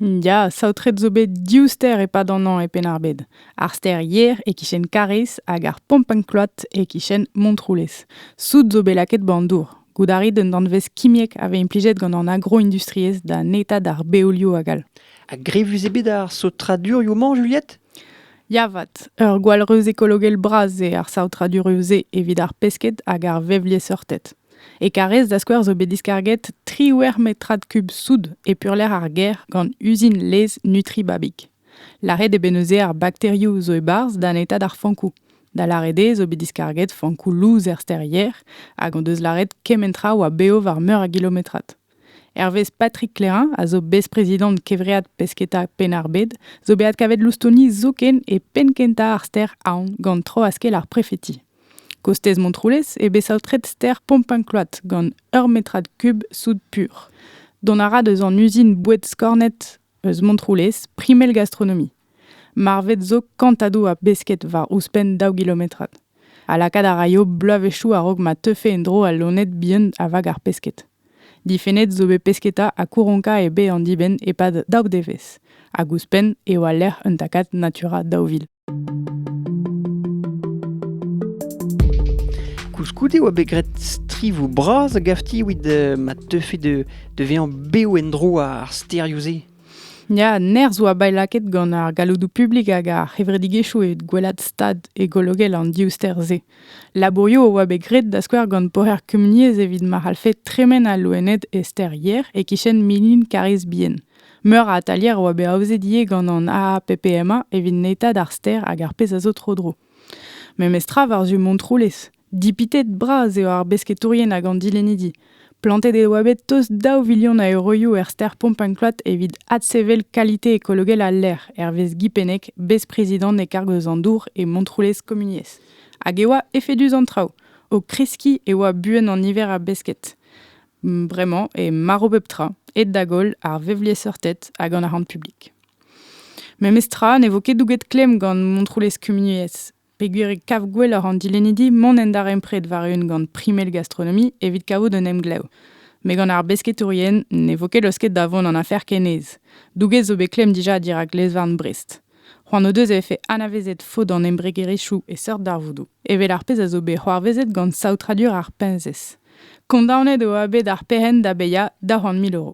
Ya, saotret zo bet div stêr e-pad an hañv e Penn-ar-Bed. Ar stêr Yer e-kichen Kariz hag ar Pompenklot e-kichen Montroulez. Soud zo bet lakaet 'ba'n dour. Goût a rit un danvez kimiek a vez implijet gant an agroindustriezh da netañ d'ar beolioù hag all. A grevus eo bet ar saotradurioù-mañ, Juliette? Ya 'vat, ur gwall reuz ekologel bras eo ar saotraduroù-se evit ar pesked hag ar vevliesseurted. E Karrez, da skouer, zo bet diskarget triwec'h metrad kub soud e purlec'h ar gêr gant uzin laezh Nutribabik. Lâret eo bet neuze ar bakterioù zo e-barzh da netañ d'ar fankoù. Da lâret eo zo bet diskarget fankoù lous er stêr Yer hag hon deus lâret kement tra a oa bev war meur a gilometrad. Hervez Patrick Clairin, a zo bez-prezidant Kevread Pesketa Penn-ar-Bed, zo bet adkavet loustoni zoken e penn-kentañ ar stêr Aon gant troaskell ar prefeti. Kostez Montroulez eo bet saotret stêr Pompin-Kload gant ur metrad kub soud pur. Dont a ra deus an uzin boued skornet eus Montroulez, primel gastronomie. Marvet zo kantadou a besked war ouzhpenn daou gilometrad. Ha lakaat a raio bloavezhioù a-raok ma teufe en-dro al loened bihan a vag ar pesked. Difennet zo bet pesketa ha kouronka e be an dibenn e-pad daou devezh, hag ouzhpenn eo al lec'h un takad natura daou vil. Koulskoude oa bet graet strivoù bras a-gafti evit euh, ma teufe de, de vezañ bev en-dro ar stêrioù-se. Ya, nerzh oa bet lakaet gant ar galloudoù publik hag ar c'hevredigezhioù evit gwelat stad ekologel an div stêr-se. Labourioù oa bet graet da skouer gant poher kumuniezh evit ma c'hallfe tremen al loened e stêr Yer e-kichen Milin Karrez Bien. Meur a atalier a oa bet aozet ivez gant an AAPPMA evit netañ d'ar stêr hag ar pezh a zo tro-dro. Memestra war-zu Montroulez. Dipitet bras eo ar besketourien hag an dilennidi. Plantet e oa bet tost daou vilion a euroioù er stêr Pompangloat evit adsevel kalite ekologel al lec'h, hervez Guy Pennec, bez-prezidant e karg eus an dour e Montroulez Komuniezh. Hag e oa efedus an traoù. O kreskiñ e oa buan an niver a besked. Bremañ eo marv pep tra, aet da goll ar vevliesseurted hag an arc'hant publik. Memes tra ne vo ket douget klemm gant Montroulez Kumuniezh, peogwir e kav gwelloc'h an dilennidi mont en darempred war-eeun gant primel gastronomie evit kavout un emglev. Met gant ar besketourien ne vo ket laosket da vont an afer ken aes. Douget zo bet klemm dija dirak lezvarn Brest. C'hoant o deus e vefe anavezet faot an embregerezhioù e seurt darvoudoù, evel ar pezh a zo bet c'hoarvezet gant saotradur ar peñsez. Kondaonet eo bet ar perc'henn da bezañ da c'hoant mil euro.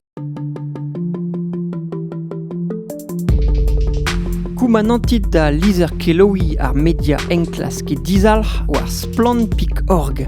Koumanantit da lizher-kelaouiñ ar media enklask e dizalc'h war splann.org.